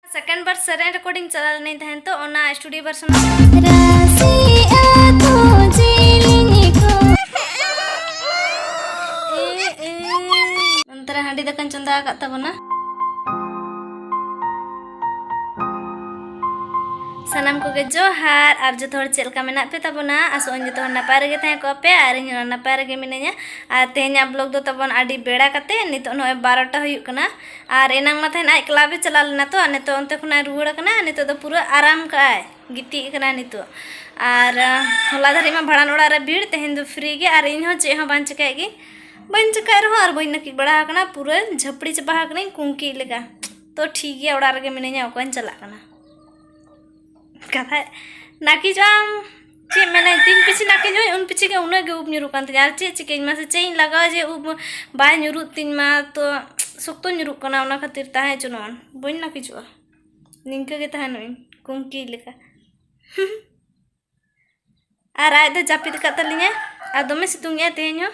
second ᱵᱟᱨ ᱥᱮᱨᱮᱧ recording ᱪᱟᱞᱟᱣ ᱞᱮᱱᱟᱹᱧ ᱛᱟᱦᱮᱱ ᱛᱚ ᱚᱱᱟ ᱥᱴᱩᱰᱤᱭᱳ ᱵᱷᱟᱨᱥᱚᱱ ᱚᱱᱛᱮᱨᱮ ᱦᱟᱺᱰᱤ ᱫᱟᱠᱟᱧ ᱪᱚᱸᱫᱟ ᱟᱠᱟᱫ ᱛᱟᱵᱚᱱᱟ ᱥᱟᱱᱟᱢ ᱠᱚᱜᱮ ᱡᱚᱦᱟᱨ ᱟᱨ ᱡᱚᱛᱚ ᱦᱚᱲ ᱪᱮᱫ ᱞᱮᱠᱟ ᱢᱮᱱᱟᱜ ᱯᱮ ᱛᱟᱵᱚᱱᱟ ᱟᱥᱚᱜ ᱟᱹᱧ ᱡᱚᱛᱚ ᱦᱚᱲ ᱱᱟᱯᱟᱭ ᱨᱮᱜᱮ ᱛᱟᱦᱮᱸ ᱠᱚᱜ ᱯᱮ ᱟᱨ ᱤᱧ ᱦᱚᱸ ᱱᱟᱯᱟᱭ ᱨᱮᱜᱮ ᱢᱤᱱᱟᱹᱧᱟ ᱟᱨ ᱛᱮᱦᱮᱧᱟᱜ ᱵᱞᱚᱜ ᱫᱚ ᱛᱟᱵᱚᱱ ᱟᱹᱰᱤ ᱵᱮᱲᱟ ᱠᱟᱛᱮ ᱱᱤᱛᱚᱜ ᱱᱚᱜᱼᱚᱭ ᱵᱟᱨᱚᱴᱟ ᱦᱩᱭᱩᱜ ᱠᱟᱱᱟ ᱟᱨ ᱮᱱᱟᱝ ᱢᱟ ᱛᱟᱦᱮᱱ ᱟᱡ ᱠᱞᱟᱵᱽ ᱮ ᱪᱟᱞᱟᱣ ᱞᱮᱱᱟ ᱛᱚ ᱱᱤᱛᱚᱜ ᱚᱱᱛᱮ ᱠᱷᱚᱱᱟᱜ ᱨᱩᱣᱟᱹᱲ ᱟᱠᱟᱱᱟ ᱱᱤᱛᱚᱜ ᱫᱚ ᱯᱩᱨᱟᱹ ᱟᱨᱟᱢ ᱠᱟᱜᱼᱟᱭ ᱜᱤᱛᱤᱡ ᱟᱠᱟᱱᱟ ᱱᱤᱛᱚᱜ ᱟᱨ ᱦᱚᱞᱟ ᱫᱷᱟᱹᱨᱤᱡ ᱢᱟ ᱵᱷᱟᱲᱟᱱ ᱚᱲᱟᱜ ᱨᱮ ᱵᱷᱤᱲ ᱛᱮᱦᱮᱧ ᱫᱚ ᱯᱷᱨᱤ ᱜᱮ ᱟᱨ ᱤᱧ ᱦᱚᱸ ᱪᱮᱫ ᱦᱚᱸ ᱵᱟᱝ ᱪᱤᱠᱟᱹᱭᱮᱫ ᱜᱮ ᱵᱟᱹᱧ ᱪᱤᱠᱟᱹᱭᱮᱫ ᱨᱮᱦᱚᱸ ᱟᱨ ᱵᱟᱹᱧ ᱱᱟᱹᱠᱤᱡ ᱵᱟᱲᱟ ᱟᱠᱟᱱᱟ ᱯᱩᱨᱟᱹ ᱡᱷᱟᱹᱯᱲᱤ ᱪᱟᱵᱟ ᱟᱠᱟᱱᱟᱹᱧ ᱠᱩᱝᱠᱤ ᱞᱮᱠᱟ ᱛᱚ ᱴᱷᱤᱠ ᱜᱮᱭᱟ ᱚᱲᱟᱜ ᱨᱮᱜᱮ ᱢᱤᱱᱟᱹᱧᱟ ᱚᱠᱚᱭᱤᱧ ᱪᱟᱞᱟᱜ ᱠᱟᱱᱟ ᱠᱟᱛᱷᱟᱡ ᱱᱟᱹᱠᱤᱡᱚᱜ ᱟᱢ ᱪᱮᱫ ᱢᱟᱱᱮ ᱛᱤᱱ ᱯᱤᱪᱷᱤ ᱱᱟᱠᱮ ᱧᱩᱭ ᱩᱱ ᱯᱤᱪᱷᱤ ᱜᱮ ᱩᱱᱟᱹᱜ ᱜᱮ ᱩᱵ ᱧᱩᱨᱩᱜ ᱠᱟᱱ ᱛᱤᱧᱟ ᱟᱨ ᱪᱮᱫ ᱪᱤᱠᱟᱹᱧ ᱢᱟᱥᱮ ᱪᱮᱫ ᱤᱧ ᱞᱟᱜᱟᱣᱟ ᱡᱮ ᱩᱵ ᱵᱟᱭ ᱧᱩᱨᱩᱜ ᱛᱤᱧ ᱢᱟ ᱛᱚ ᱥᱚᱠᱛᱚ ᱧᱩᱨᱩᱜ ᱠᱟᱱᱟ ᱚᱱᱟ ᱠᱷᱟᱹᱛᱤᱨ ᱛᱟᱦᱮᱸ ᱪᱚᱱᱚᱜᱼᱟ ᱵᱟᱹᱧ ᱱᱟᱹᱠᱤᱡᱚᱜᱼᱟ ᱱᱤᱝᱠᱟᱹ ᱜᱮ ᱛᱟᱦᱮᱱᱚᱜ ᱤᱧ ᱠᱩᱝᱠᱤ ᱞᱮᱠᱟ ᱟᱨ ᱟᱡ ᱫᱚ ᱡᱟᱹᱯᱤᱫ ᱟᱠᱟᱫ ᱛᱟᱹᱞᱤᱧᱟᱭ ᱟᱨ ᱫᱚᱢᱮ ᱥᱤᱛᱩᱝ ᱮᱫᱟᱭ ᱛᱮᱦᱮᱧ ᱦᱚᱸ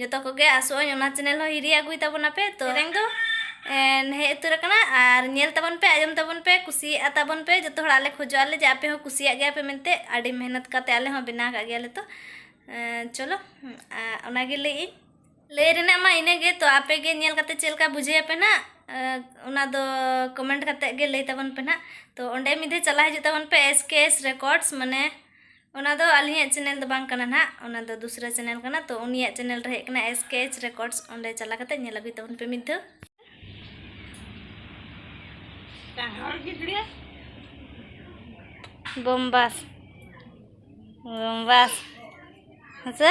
ᱡᱚᱛᱚ ᱠᱚᱜᱮ ᱟᱥᱚᱜᱼᱟᱹᱧ ᱚᱱᱟ ᱪᱮᱱᱮᱞ ᱦᱚᱸ ᱦᱤᱨᱤ ᱟᱹᱜᱩᱭ ᱛᱟᱵᱚᱱᱟ ᱯᱮ ᱛᱚ ᱨᱮᱝ ᱫᱚ ᱦᱮᱡ ᱩᱛᱟᱹᱨ ᱟᱠᱟᱱᱟ ᱟᱨ ᱧᱮᱞ ᱛᱟᱵᱚᱱ ᱯᱮ ᱟᱸᱡᱚᱢ ᱛᱟᱵᱚᱱ ᱯᱮ ᱠᱩᱥᱤᱭᱟᱜᱼᱟ ᱛᱟᱵᱚᱱ ᱯᱮ ᱡᱚᱛᱚ ᱦᱚᱲ ᱟᱞᱮ ᱠᱷᱚᱡᱚᱜ ᱟᱞᱮ ᱡᱮ ᱟᱯᱮ ᱦᱚᱸ ᱠᱩᱥᱤᱭᱟᱜ ᱜᱮᱭᱟ ᱯᱮ ᱢᱮᱱᱛᱮ ᱟᱹᱰᱤ ᱢᱮᱦᱱᱚᱛ ᱠᱟᱛᱮ ᱟᱞᱮ ᱦᱚᱸ ᱵᱮᱱᱟᱣ ᱠᱟᱜ ᱜᱮᱭᱟᱞᱮ ᱛᱚ ᱪᱚᱞᱚ ᱚᱱᱟᱜᱮ ᱞᱟᱹᱭᱮᱫ ᱤᱧ ᱞᱟᱹᱭ ᱨᱮᱱᱟᱜ ᱢᱟ ᱤᱱᱟᱹᱜᱮ ᱛᱚ ᱟᱯᱮ ᱜᱮ ᱧᱮᱞ ᱠᱟᱛᱮ ᱪᱮᱫ ᱞᱮᱠᱟ ᱵᱩᱡᱷᱟᱹᱣ ᱯᱮ ᱱᱟᱜ ᱚᱱᱟ ᱫᱚ ᱠᱚᱢᱮᱱᱴ ᱠᱟᱛᱮ ᱜᱮ ᱞᱟᱹᱭ ᱛᱟᱵᱚᱱ ᱯᱮ ᱱᱟᱜ ᱛᱚ ᱚᱸᱰᱮ ᱢᱤᱫ ᱫᱷᱟᱣ ᱪᱟᱞᱟᱣ ᱦᱤᱡᱩᱜ ᱛᱟᱵᱚᱱ ᱯᱮ ᱮᱥ ᱠᱮ ᱮᱥ ᱨᱮᱠᱚᱨᱰᱥ ᱢᱟᱱᱮ ᱚᱱᱟ ᱫᱚ ᱟᱹᱞᱤᱧᱟᱜ ᱪᱮᱱᱮᱞ ᱫᱚ ᱵᱟᱝ ᱠᱟᱱᱟ ᱱᱟᱦᱟᱜ ᱚᱱᱟ ᱫᱚ ᱫᱩᱥᱨᱟ ᱪᱮᱱᱮᱞ ᱠᱟᱱᱟ ᱛᱚ ᱩᱱᱤᱭᱟᱜ ᱪᱮᱱᱮᱞ ᱨᱮ ᱦᱮᱡ ᱠᱟᱱᱟ ᱮᱥ ᱠᱮ ᱮᱪ ᱨᱮᱠᱚᱨᱰᱥ ᱚᱸᱰᱮ ᱪᱟᱞᱟᱣ ᱠᱟᱛᱮ ᱧᱮᱞ ᱟᱹᱜᱩᱭ ᱛᱟᱵᱚᱱ ᱯᱮ ᱢᱤᱫ ᱫᱷᱟᱣ ᱵᱳᱢᱵᱟᱥ ᱵᱳᱢᱵᱟᱥ ᱦᱮᱸᱥᱮ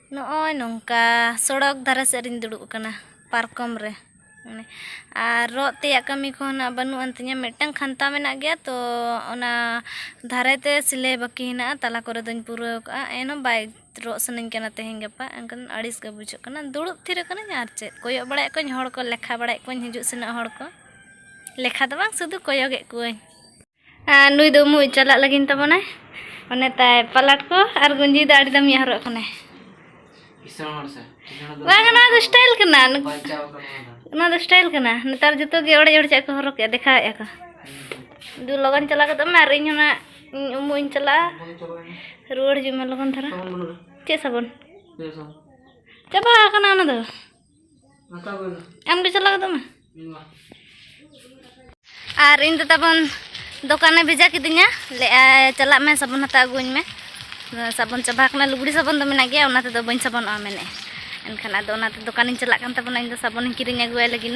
ᱱᱚᱜᱼᱚᱭ ᱱᱚᱝᱠᱟ ᱥᱚᱲᱚᱠ ᱫᱷᱟᱨᱮ ᱥᱮᱫ ᱨᱤᱧ ᱫᱩᱲᱩᱵ ᱟᱠᱟᱱᱟ ᱯᱟᱨᱠᱚᱢ ᱨᱮ ᱢᱟᱱᱮ ᱟᱨ ᱨᱚᱜ ᱛᱮᱭᱟᱜ ᱠᱟᱹᱢᱤ ᱠᱚᱦᱚᱸ ᱱᱟᱜ ᱵᱟᱹᱱᱩᱜ ᱟᱱ ᱛᱤᱧᱟᱹ ᱢᱤᱫᱴᱟᱝ ᱠᱷᱟᱱᱛᱟ ᱢᱮᱱᱟᱜ ᱜᱮᱭᱟ ᱛᱚ ᱚᱱᱟ ᱫᱷᱟᱨᱮ ᱛᱮ ᱥᱤᱞᱟᱹᱭ ᱵᱟᱹᱠᱤ ᱦᱮᱱᱟᱜᱼᱟ ᱛᱟᱞᱟ ᱠᱚᱨᱮ ᱫᱚᱧ ᱯᱩᱨᱟᱹᱣ ᱠᱟᱜᱼᱟ ᱮᱱᱦᱚᱸ ᱵᱟᱭ ᱨᱚᱜ ᱥᱟᱱᱟᱧ ᱠᱟᱱᱟ ᱛᱮᱦᱮᱧ ᱜᱟᱯᱟ ᱮᱱᱠᱷᱟᱱ ᱟᱹᱲᱤᱥ ᱜᱮ ᱵᱩᱡᱷᱟᱹᱜ ᱠᱟᱱᱟ ᱫᱩᱲᱩᱵ ᱛᱷᱤᱨ ᱠᱟᱹᱱᱟᱹᱧ ᱟᱨ ᱪᱮᱫ ᱠᱚᱭᱚᱜ ᱵᱟᱲᱟᱭᱮᱫ ᱠᱚᱣᱟᱧ ᱦᱚᱲ ᱠᱚ ᱞᱮᱠᱷᱟ ᱵᱟᱲᱟᱭᱮᱫ ᱠᱚᱣᱟᱧ ᱦᱤᱡᱩᱜ ᱥᱮᱱᱚᱜ ᱦᱚᱲ ᱠᱚ ᱞᱮᱠᱷᱟ ᱫᱚ ᱵᱟᱝ ᱥᱩᱫᱩ ᱠᱚᱭᱚᱜᱮᱫ ᱠᱚᱣᱟᱧ ᱟᱨ ᱱᱩᱭ ᱫᱚ ᱩᱢᱩᱜ ᱪᱟᱞᱟᱜ ᱞᱟᱹᱜᱤᱫ ᱛᱟᱵᱚᱱᱟᱭ ᱚᱱᱮ ᱛᱟᱭ ᱯᱟᱞᱟᱴ ᱠᱚ ᱟᱨ ᱜᱩᱸᱡᱤ ᱫᱚ ᱟᱹᱰᱤ ᱫᱟᱢᱤᱭᱟ ᱦᱚᱨᱚᱜ ᱠᱟᱱᱟᱭ ᱠᱤᱥᱟᱹᱬ ᱦᱚᱲ ᱥᱮ ᱠᱤᱥᱟᱹᱬ ᱫᱚ ᱵᱟᱝ ᱱᱚᱣᱟ ᱫᱚ ᱥᱴᱟᱭᱤᱞ ᱠᱟᱱᱟ ᱵᱟᱧᱪᱟᱣ ᱠᱟᱱᱟ ᱱᱚᱣᱟ ᱫᱚ ᱥᱴᱟᱭᱤᱞ ᱠᱟᱱᱟ ᱱᱮᱛᱟᱨ ᱡᱚᱛᱚ ᱜᱮ ᱚᱲᱮᱡ ᱚᱲᱮᱡᱟᱜ ᱠᱚ ᱦᱚᱨᱚᱜᱮᱜᱼᱟ ᱫᱮᱠᱷᱟᱣᱮᱜᱼᱟ ᱠᱚ ᱫᱩ ᱞᱚᱜᱚᱱ ᱪᱟᱞᱟᱣ ᱜᱚᱫᱚᱜ ᱢᱮ ᱟᱨ ᱤᱧ ᱦᱚᱸ ᱱᱟᱜ ᱤᱧ ᱩᱢᱩᱜ ᱤᱧ ᱪᱟᱞᱟᱜᱼᱟ ᱨᱩᱣᱟᱹᱲ ᱦᱤᱡᱩᱜ ᱢᱮ ᱞᱚᱜᱚᱱ ᱫᱷᱟᱨᱟ ᱪᱮᱫ ᱥᱟᱵᱚᱱ ᱪᱟᱵᱟ ᱟᱠᱟᱱᱟ ᱚᱱᱟ ᱫᱚ ᱟᱢ ᱫᱚ ᱪᱟᱞᱟᱣ ᱜᱚᱫᱚᱜ ᱢᱮ ᱟᱨ ᱤᱧ ᱫᱚ ᱛᱟᱵᱚᱱ ᱫᱚᱠᱟᱱᱮ ᱵᱷᱮᱡᱟ ᱠᱤᱫᱤᱧᱟ ᱞᱟᱹᱭᱟᱭ ᱪᱟᱞᱟᱜ ᱢᱮ ᱥᱟᱵᱚᱱ ᱦᱟᱛᱟᱣ ᱟᱹᱜᱩᱣᱟᱹᱧ ᱢᱮ ᱥᱟᱵᱚᱱ ᱪᱟᱵᱟ ᱟᱠᱟᱱᱟ ᱞᱩᱜᱽᱲᱤ ᱥᱟᱵᱚᱱ ᱫᱚ ᱢᱮᱱᱟᱜ ᱜᱮᱭᱟ ᱚᱱᱟ ᱛᱮᱫᱚ ᱵᱟᱹᱧ ᱥᱟᱵᱚᱱᱚᱜᱼᱟ ᱢᱮᱱᱮᱫ ᱮᱱᱠᱷᱟᱱ ᱟᱫᱚ ᱚᱱᱟᱛᱮ ᱫᱚᱠᱟᱱᱤᱧ ᱪᱟᱞᱟᱜ ᱠᱟᱱ ᱛᱟᱵᱚᱱᱟ ᱤᱧ ᱫᱚ ᱥᱟᱵᱚᱱᱤᱧ ᱠᱤᱨᱤᱧ ᱟᱹᱜᱩᱣᱟᱭ ᱞᱟᱹᱜᱤᱫ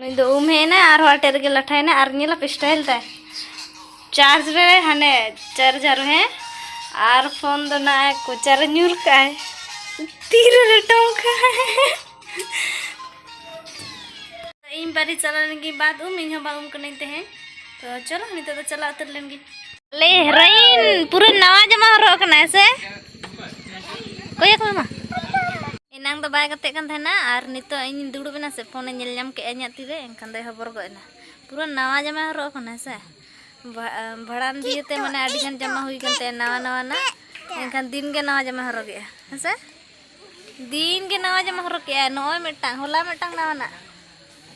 ᱱᱩᱭ ᱫᱚ ᱩᱢ ᱦᱮᱡ ᱮᱱᱟᱭ ᱟᱨᱦᱚᱸ ᱟᱴᱮᱫ ᱨᱮᱜᱮ ᱞᱟᱴᱷᱟᱭᱮᱱᱟᱭ ᱟᱨ ᱧᱮᱞᱟ ᱯᱮ ᱥᱴᱟᱭᱤᱞ ᱛᱟᱭ ᱪᱟᱨᱡᱽ ᱨᱮ ᱦᱟᱱᱮ ᱪᱟᱨᱡᱟᱨ ᱦᱮᱸ ᱟᱨ ᱯᱷᱳᱱ ᱫᱚ ᱱᱟᱜ ᱠᱚᱪᱟᱨᱮ ᱧᱩᱨ ᱠᱟᱜᱼᱟᱭ ᱛᱤᱨᱮ ᱞᱮᱴᱚᱢ ᱠᱟᱜᱼᱟᱭ ᱤᱧ ᱵᱟᱨᱤ ᱪᱟᱞᱟᱣ ᱞᱮᱱᱜᱮ ᱵᱟᱫ ᱩᱢ ᱤᱧ ᱦᱚᱸ ᱵᱟᱝ ᱩᱢ ᱠᱟᱹᱱᱟᱹᱧ ᱛᱮᱦᱮᱧ ᱛᱚ ᱪᱚᱞᱚ ᱱᱤᱛᱚᱜ ᱫᱚ ᱪᱟᱞᱟᱣ ᱩᱛᱟᱹᱨ ᱞᱮᱱᱜᱮ ᱞᱮ ᱦᱮᱨᱟᱭᱤᱱ ᱯᱩᱨᱟᱹ ᱱᱟᱣᱟ ᱡᱟᱢᱟ ᱦᱚᱨᱚᱜ ᱠᱟᱱᱟᱭ ᱥᱮ ᱠᱚᱭᱚᱠ ᱢᱟᱢᱟ ᱮᱱᱟᱝ ᱫᱚ ᱵᱟᱭ ᱜᱟᱛᱮᱜ ᱠᱟᱱ ᱛᱟᱦᱮᱱᱟ ᱟᱨ ᱱᱤᱛᱚᱜ ᱤᱧ ᱫᱩᱲᱩᱵ ᱮᱱᱟ ᱥᱮ ᱯᱷᱳᱱᱮ ᱧᱮᱞ ᱧᱟᱢ ᱠᱮᱫᱼᱟ ᱤᱧᱟᱹᱜ ᱛᱤᱨᱮ ᱮᱱᱠᱷᱟᱱ ᱫᱚᱭ ᱦᱚᱵᱚᱨ ᱜᱚᱫ ᱮᱱᱟ ᱯᱩᱨᱟᱹ ᱱᱟᱣᱟ ᱡᱟᱢᱟᱭ ᱦᱚᱨᱚᱜ ᱠᱟᱱᱟ ᱥᱮ ᱵᱷᱟᱲᱟᱱ ᱫᱤᱭᱮ ᱛᱮ ᱢᱟᱱᱮ ᱟᱹᱰᱤ ᱜᱟᱱ ᱡᱟᱢᱟ ᱦᱩᱭ ᱠᱟᱱ ᱛᱟᱭᱟ ᱱᱟᱣᱟ ᱱᱟᱣᱟ ᱱᱟ ᱮᱱᱠᱷᱟᱱ ᱫᱤᱱ ᱜᱮ ᱱᱟᱣᱟ ᱡᱟᱢᱟ ᱦᱚᱨᱚᱜᱮᱜᱼᱟ ᱦᱮᱸ ᱥᱮ ᱫᱤᱱ ᱜᱮ ᱱᱟᱣᱟ ᱡᱟᱢᱟ ᱦᱚᱨᱚᱜᱮᱜᱼᱟ ᱱᱚᱜᱼᱚᱭ ᱢᱤᱫᱴᱟᱝ ᱦᱚᱞᱟ ᱢᱤᱫᱴᱟᱝ ᱱᱟᱣᱟᱱᱟᱜ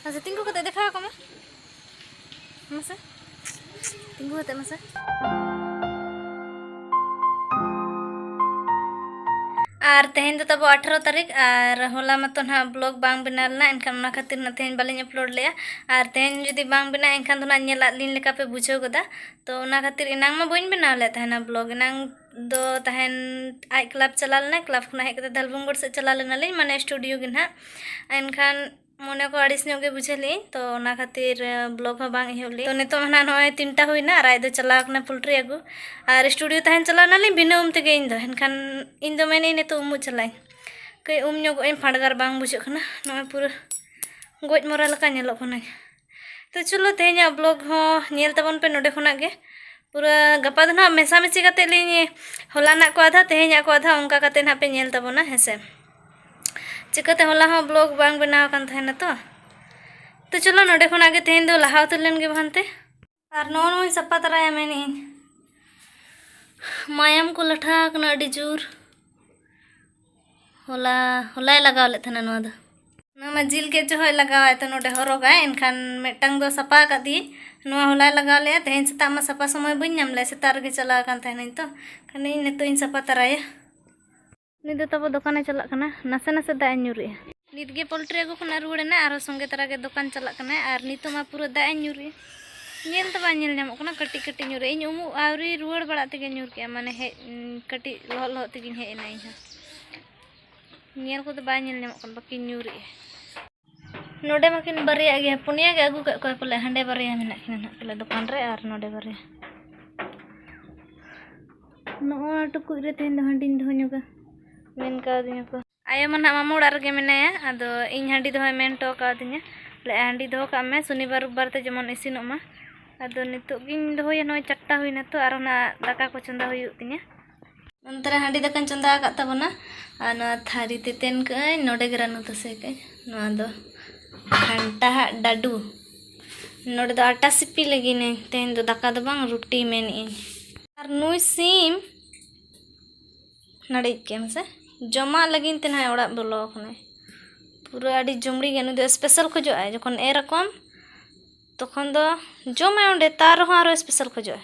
ᱦᱮᱸ ᱥᱮ ᱛᱤᱸᱜᱩ ᱠᱟᱛᱮ ᱫᱮᱠᱷᱟᱣ ᱟᱠᱚ ᱢᱮ ᱢᱟᱥᱮ ᱛᱤᱸᱜᱩ ᱠᱟᱛᱮ ᱢᱟᱥᱮ ᱟᱨ ᱛᱮᱦᱮᱧ ᱫᱚ ᱛᱟᱵᱚ ᱟᱴᱷᱟᱨᱚ ᱛᱟᱹᱨᱤᱠᱷ ᱟᱨ ᱦᱚᱞᱟ ᱢᱟᱛᱚ ᱱᱟᱦᱟᱜ ᱵᱞᱚᱜ ᱵᱟᱝ ᱵᱮᱱᱟᱣ ᱞᱮᱱᱟ ᱮᱱᱠᱷᱟᱱ ᱚᱱᱟ ᱠᱷᱟᱹᱛᱤᱨ ᱱᱟᱜ ᱛᱮᱦᱮᱧ ᱵᱟᱹᱞᱤᱧ ᱟᱯᱞᱳᱰ ᱞᱮᱜᱼᱟ ᱟᱨ ᱛᱮᱦᱮᱧ ᱡᱩᱫᱤ ᱵᱟᱝ ᱵᱮᱱᱟᱜᱼᱟ ᱮᱱᱠᱷᱟᱱ ᱫᱚ ᱱᱟᱜ ᱧᱮᱞᱟᱫ ᱞᱤᱧ ᱞᱮᱠᱟ ᱯᱮ ᱵᱩᱡᱷᱟᱹᱣ ᱜᱚᱫᱟ ᱛᱚ ᱚᱱᱟ ᱠᱷᱟᱹᱛᱤᱨ ᱮᱱᱟᱝ ᱢᱟ ᱵᱟᱹᱧ ᱵᱮᱱᱟᱣ ᱞᱮᱫ ᱛᱟᱦᱮᱱᱟ ᱵᱞᱚᱜ ᱮᱱᱟᱝ ᱫᱚ ᱛᱟᱦᱮᱱ ᱟᱡ ᱠᱞᱟᱵᱽ ᱪᱟᱞᱟᱣ ᱞᱮᱱᱟ ᱠᱞᱟᱵᱽ ᱠᱷᱚᱱᱟᱜ ᱦᱮᱡ ᱠᱟᱛᱮ ᱫᱷᱟᱞᱵᱷᱩᱝᱜᱚᱲ ᱥᱮᱫ ᱪᱟᱞᱟᱣ ᱞᱮᱱᱟᱞᱤᱧ ᱢᱟᱱᱮ ᱥᱴᱩᱰᱤᱭᱳ ᱜᱮ ᱱᱟᱜ ᱮᱱᱠᱷᱟᱱ ᱢᱚᱱᱮ ᱠᱚ ᱟᱹᱲᱤᱥ ᱧᱚᱜ ᱜᱮ ᱵᱩᱡᱷᱟᱹᱣ ᱞᱮᱫᱟᱹᱧ ᱛᱚ ᱚᱱᱟ ᱠᱷᱟᱹᱛᱤᱨ ᱵᱞᱚᱜ ᱦᱚᱸ ᱵᱟᱝ ᱮᱦᱚᱵ ᱞᱮᱫᱟᱹᱧ ᱛᱚ ᱱᱤᱛᱚᱜ ᱦᱟᱸᱜ ᱱᱚᱜᱼᱚᱭ ᱛᱤᱱᱴᱟ ᱦᱩᱭᱱᱟ ᱟᱨ ᱟᱡ ᱫᱚ ᱪᱟᱞᱟᱣ ᱠᱟᱱᱟ ᱯᱳᱞᱴᱨᱤ ᱟᱹᱜᱩ ᱟᱨ ᱥᱴᱩᱰᱤᱭᱳ ᱛᱟᱦᱮᱱ ᱪᱟᱞᱟᱣ ᱮᱱᱟᱞᱤᱧ ᱵᱤᱱᱟᱹ ᱩᱢ ᱛᱮᱜᱮ ᱤᱧ ᱫᱚ ᱮᱱᱠᱷᱟᱱ ᱤᱧ ᱫᱚ ᱢᱮᱱᱮᱫᱟᱹᱧ ᱱᱤᱛᱚᱜ ᱩᱢᱩᱜ ᱪᱟᱞᱟᱜ ᱟᱹᱧ ᱠᱟᱹᱡ ᱩᱢ ᱧᱚᱜᱚᱜ ᱟᱹᱧ ᱯᱷᱟᱰᱜᱟᱨ ᱵᱟᱝ ᱵᱩᱡᱷᱟᱹᱜ ᱠᱟᱱᱟ ᱱᱚᱜᱼᱚᱭ ᱯᱩᱨᱟᱹ ᱜᱚᱡ ᱢᱚᱨᱟ ᱞᱮᱠᱟ ᱧᱮᱞᱚᱜ ᱠᱟᱹᱱᱟᱹᱧ ᱛᱚ ᱪᱚᱞᱚ ᱛᱮᱦᱮᱧᱟᱜ ᱵᱞᱚᱜ ᱦᱚᱸ ᱧᱮᱞ ᱛᱟᱵᱚᱱ ᱯᱮ ᱱᱚᱰᱮ ᱠᱷᱚᱱᱟᱜ ᱜᱮ ᱯᱩᱨᱟᱹ ᱜᱟᱯᱟ ᱫᱚ ᱱᱟᱦᱟᱜ ᱢᱮᱥᱟᱢᱤᱥᱤ ᱠᱟᱛᱮ ᱞᱤᱧ ᱦᱚᱞᱟᱱᱟᱜ ᱠᱚ ᱟᱫᱷᱟ ᱛᱮᱦᱮᱧᱟᱜ ᱠᱚ ᱟᱫᱷᱟ ᱚᱱᱠᱟ ᱠᱟᱛᱮ ᱱᱟᱦᱟᱜ ᱯᱮ ᱧᱮᱞ ᱛᱟᱵᱚᱱᱟ ᱦᱮᱸᱥᱮ ᱪᱤᱠᱟᱹᱛᱮ ᱦᱚᱞᱟ ᱦᱚᱸ ᱵᱞᱚᱜ ᱵᱟᱝ ᱵᱮᱱᱟᱣ ᱟᱠᱟᱱ ᱛᱟᱦᱮᱱᱟ ᱛᱚ ᱛᱚ ᱪᱚᱞᱚ ᱱᱚᱰᱮ ᱠᱷᱚᱱᱟᱜ ᱜᱮ ᱛᱮᱦᱮᱧ ᱫᱚ ᱞᱟᱦᱟ ᱩᱛᱟᱹᱨ ᱞᱮᱱ ᱜᱮ ᱵᱟᱝᱛᱮ ᱟᱨ ᱱᱚᱜᱼᱚ ᱱᱚᱣᱟᱧ ᱥᱟᱯᱟ ᱛᱟᱨᱟᱭᱟ ᱢᱮᱱᱮᱫ ᱟᱹᱧ ᱢᱟᱭᱟᱢ ᱠᱚ ᱞᱟᱴᱷᱟ ᱟᱠᱟᱱᱟ ᱟᱹᱰᱤ ᱡᱳᱨ ᱦᱚᱞᱟ ᱦᱚᱞᱟᱭ ᱞᱟᱜᱟᱣ ᱞᱮᱫ ᱛᱟᱦᱮᱱᱟ ᱱᱚᱣᱟ ᱫᱚ ᱱᱚᱣᱟ ᱢᱟ ᱡᱤᱞ ᱜᱮᱫ ᱡᱚᱦᱚᱜ ᱞᱟᱜᱟᱣᱟᱭ ᱛᱚ ᱱᱚᱰᱮ ᱦᱚᱨᱚᱜᱟᱭ ᱮᱱᱠᱷᱟᱱ ᱢᱤᱫᱴᱟᱝ ᱫᱚ ᱥᱟᱯᱟ ᱟᱠᱟᱫᱤᱭᱟᱹᱧ ᱱᱚᱣᱟ ᱦᱚᱞᱟᱭ ᱞᱟᱜᱟᱣ ᱞᱮᱫᱼᱟ ᱛᱮᱦᱮᱧ ᱥᱮᱛᱟᱜ ᱢᱟ ᱥᱟᱯᱟ ᱥᱚᱢᱚᱭ ᱵᱟᱹᱧ ᱧᱟᱢ ᱞᱮᱫᱼᱟ ᱥᱮᱛᱟᱜ ᱨᱮᱜᱮ ᱪᱟᱞᱟᱣ ᱟᱠᱟᱱ ᱛᱟᱦᱮᱱᱟᱹᱧ ᱛᱚ ᱠᱷᱟᱱ ᱤᱧ ᱱᱤᱛᱚᱜ ᱤᱧ ᱥᱟᱯᱟ ᱛᱟᱨᱟᱭᱟ ᱩᱱᱤ ᱫᱚ ᱛᱟᱵᱚ ᱫᱚᱠᱟᱱᱮ ᱪᱟᱞᱟᱜ ᱠᱟᱱᱟ ᱱᱟᱥᱮ ᱱᱟᱥᱮ ᱫᱟᱜ ᱮ ᱧᱩᱨᱮᱜᱼᱟ ᱱᱤᱛ ᱜᱮ ᱯᱚᱞᱴᱨᱤ ᱟᱹᱜᱩ ᱠᱷᱚᱱᱟᱜ ᱨᱩᱣᱟᱹᱲ ᱮᱱᱟ ᱟᱨ ᱥᱚᱸᱜᱮ ᱛᱟᱨᱟ ᱜᱮ ᱫᱚᱠᱟᱱ ᱪᱟᱞᱟᱜ ᱠᱟᱱᱟ ᱟᱨ ᱱᱤᱛᱚᱜ ᱢᱟ ᱯᱩᱨᱟᱹ ᱫᱟᱜ ᱮ ᱧᱩᱨᱮᱜᱼᱟ ᱧᱮᱞ ᱫᱚ ᱵᱟᱝ ᱧᱮᱞ ᱧᱟᱢᱚᱜ ᱠᱟᱱᱟ ᱠᱟᱹᱴᱤᱡ ᱠᱟᱹᱴᱤᱡ ᱧᱩᱨᱮ ᱤᱧ ᱩᱢᱩᱜ ᱟᱹᱣᱨᱤ ᱨᱩᱣᱟᱹᱲ ᱵᱟᱲᱟᱜ ᱛᱮᱜᱮ ᱧᱩᱨ ᱠᱮᱜᱼᱟ ᱢᱟᱱᱮ ᱦᱮᱡ ᱠᱟᱹᱴᱤᱡ ᱞᱚᱦᱚᱫ ᱞᱚᱦᱚᱫ ᱛᱮᱜᱮᱧ ᱦᱮᱡ ᱮᱱᱟ ᱤᱧ ᱦᱚᱸ ᱧᱮᱞ ᱠᱚᱫᱚ ᱵᱟᱭ ᱧᱮᱞ ᱧᱟᱢᱚᱜ ᱠᱟᱱᱟ ᱵᱟᱹᱠᱤ ᱧᱩᱨᱮᱜᱼᱟ ᱱᱚᱰᱮ ᱢᱟᱠᱤᱱ ᱵᱟᱨᱭᱟ ᱜᱮᱭᱟ ᱯᱩᱱᱭᱟ ᱜᱮ ᱟᱹᱜᱩ ᱠᱟᱜ ᱠᱚᱣᱟ ᱯᱟᱞᱮ ᱦᱟᱸᱰᱮ ᱵᱟᱨᱭᱟ ᱢᱮᱱᱟᱜ ᱠᱤᱱᱟ ᱱᱟᱜ ᱯᱟᱞᱮ ᱫᱚᱠᱟᱱ ᱨᱮ ᱟᱨ ᱱᱚᱰᱮ ᱵᱟᱨᱭᱟ ᱱᱚᱣᱟ ᱴᱩᱠᱩᱡ ᱨᱮ ᱛᱮᱦᱮᱧ ᱫᱚ ᱦᱟᱺᱰᱤᱧ ᱫᱚᱦᱚ ᱧᱚᱜᱟ ᱢᱮᱱ ᱠᱟᱣᱫᱤᱧᱟ ᱠᱚ ᱟᱭᱳ ᱢᱟ ᱱᱟᱜ ᱢᱟᱢᱟ ᱚᱲᱟᱜ ᱨᱮᱜᱮ ᱢᱮᱱᱟᱭᱟ ᱟᱫᱚ ᱤᱧ ᱦᱟᱺᱰᱤ ᱫᱚᱦᱚᱭ ᱢᱮᱱ ᱦᱚᱴᱚ ᱠᱟᱣᱫᱤᱧᱟ ᱞᱮ ᱦᱟᱺᱰᱤ ᱫᱚᱦᱚ ᱠᱟᱜ ᱢᱮ ᱥᱚᱱᱤᱵᱟᱨ ᱨᱳᱵᱵᱟᱨ ᱛᱮ ᱡᱮᱢᱚᱱ ᱤᱥᱤᱱᱚᱜ ᱢᱟ ᱟᱫᱚ ᱱᱤᱛᱚᱜ ᱜᱤᱧ ᱫᱚᱦᱚᱭᱟ ᱱᱚᱜᱼᱚᱭ ᱪᱟᱨᱴᱟ ᱦᱩᱭᱱᱟ ᱛᱚ ᱟᱨᱚ ᱱᱟᱜ ᱫᱟᱠᱟ ᱠᱚ ᱪᱚᱸᱫᱟ ᱦᱩᱭᱩᱜ ᱛᱤᱧᱟᱹ ᱱᱚᱱᱛᱮ ᱨᱮ ᱦᱟᱺᱰᱤ ᱫᱟᱠᱟᱧ ᱪᱚᱸᱫᱟ ᱟᱠᱟᱫ ᱛᱟᱵᱚᱱᱟ ᱟᱨ ᱱᱚᱣᱟ ᱛᱷᱟᱹᱨᱤ ᱛᱮᱛᱮᱱ ᱠᱟᱹᱜᱼᱟᱹᱧ ᱱᱚᱰᱮ ᱜᱮ ᱨᱟᱹᱱᱩ ᱛᱟᱥᱮ ᱠᱟᱹᱜᱼᱟᱹᱧ ᱱᱚᱣᱟ ᱫᱚ ᱜᱷᱟᱱᱴᱟ ᱦᱟᱜ ᱰᱟᱹᱰᱩ ᱱᱚᱰᱮ ᱫᱚ ᱟᱴᱟ ᱥᱤᱯᱤ ᱞᱟᱹᱜᱤᱫ ᱤᱧ ᱛᱮᱦᱮᱧ ᱫᱚ ᱫᱟᱠᱟ ᱫᱚ ᱵᱟᱝ ᱨᱩᱴᱤ ᱢᱮᱱᱮᱫ ᱤᱧ ᱟᱨ ᱱᱩᱭ ᱥᱤᱢ ᱱᱟᱹᱲᱤᱡ ᱠᱮᱫ ᱢᱮᱥᱮ ᱡᱚᱢᱟᱜ ᱞᱟᱹᱜᱤᱫ ᱛᱮ ᱱᱟᱦᱟᱜ ᱚᱲᱟᱜ ᱵᱚᱞᱚ ᱟᱠᱟᱱᱟᱭ ᱯᱩᱨᱟᱹ ᱟᱹᱰᱤ ᱡᱩᱢᱲᱤ ᱜᱮ ᱱᱩᱭ ᱫᱚ ᱥᱯᱮᱥᱟᱞ ᱠᱷᱚᱡᱚᱜᱼᱟᱭ ᱡᱚᱠᱷᱚᱱ ᱮᱨ ᱟᱠᱚᱣᱟᱢ ᱛᱚᱠᱷᱚᱱ ᱫᱚ ᱡᱚᱢᱟᱭ ᱚᱸᱰᱮ ᱛᱟᱣ ᱨᱮᱦᱚᱸ ᱟᱨᱚ ᱥᱯᱮᱥᱟᱞ ᱠᱷᱚᱡᱚᱜᱼᱟᱭ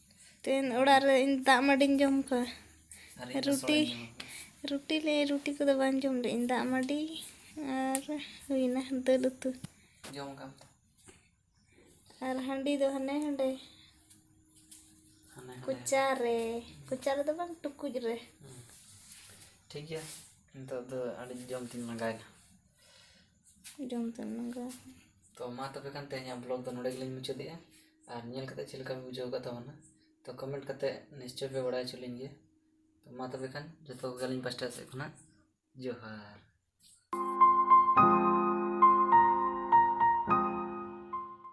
ᱛᱮᱦᱮᱧ ᱚᱲᱟᱜ ᱨᱮ ᱤᱧ ᱫᱟᱜ ᱢᱟᱹᱰᱤᱧ ᱡᱚᱢ ᱠᱟᱜᱼᱟ ᱨᱩᱴᱤ ᱨᱩᱴᱤ ᱞᱮ ᱨᱩᱴᱤ ᱠᱚᱫᱚ ᱵᱟᱝ ᱡᱚᱢ ᱞᱮᱫ ᱤᱧ ᱫᱟᱜ ᱢᱟᱹᱰᱤ ᱟᱨ ᱦᱩᱭᱱᱟ ᱫᱟᱹᱞ ᱩᱛᱩ ᱡᱚᱢ ᱠᱟᱜ ᱟᱨ ᱦᱟᱺᱰᱤ ᱫᱚ ᱦᱟᱱᱮ ᱦᱟᱸᱰᱮ ᱠᱚᱪᱟ ᱨᱮ ᱠᱚᱪᱟ ᱨᱮᱫᱚ ᱵᱟᱝ ᱴᱩᱠᱩᱡ ᱨᱮ ᱴᱷᱤᱠ ᱜᱮᱭᱟ ᱱᱤᱛᱚᱜ ᱫᱚ ᱟᱹᱰᱤ ᱡᱚᱢ ᱛᱤᱧ ᱞᱟᱸᱜᱟᱭᱮᱱᱟ ᱡᱚᱢ ᱛᱮ ᱞᱟᱸᱜᱟ ᱛᱚ ᱢᱟ ᱛᱚᱵᱮ ᱠᱷᱟᱱ ᱛᱮᱦᱮᱧᱟᱜ ᱵᱞᱚᱜᱽ ᱫᱚ ᱱᱚᱸᱰᱮ ᱜᱮᱞᱤᱧ ᱢᱩᱪᱟᱹᱫᱮᱜᱼᱟ ᱟᱨ ᱧᱮᱞ ᱠᱟᱛᱮ ᱪᱮᱫ ᱞᱮᱠᱟ ᱵᱤᱱ ᱵᱩᱡᱷᱟᱹᱣ ᱟᱠᱟᱫ ᱛᱟᱵᱚᱱᱟ ᱛᱚ ᱠᱚᱢᱮᱱᱴ ᱠᱟᱛᱮ ᱱᱤᱥᱪᱚᱭ ᱯᱮ ᱵᱟᱲᱟᱭ ᱦᱚᱪᱚ ᱞᱤᱧ ᱜᱮᱭᱟ ᱛᱚ ᱢᱟ ᱛᱚᱵᱮ ᱠᱷᱟᱱ ᱡᱚᱛᱚ ᱠᱚᱜᱮ ᱟᱹᱞᱤᱧ ᱯᱟᱥᱴᱟ ᱥᱮᱫ ᱠᱷᱚᱱᱟᱜ ᱡᱚᱦᱟᱨ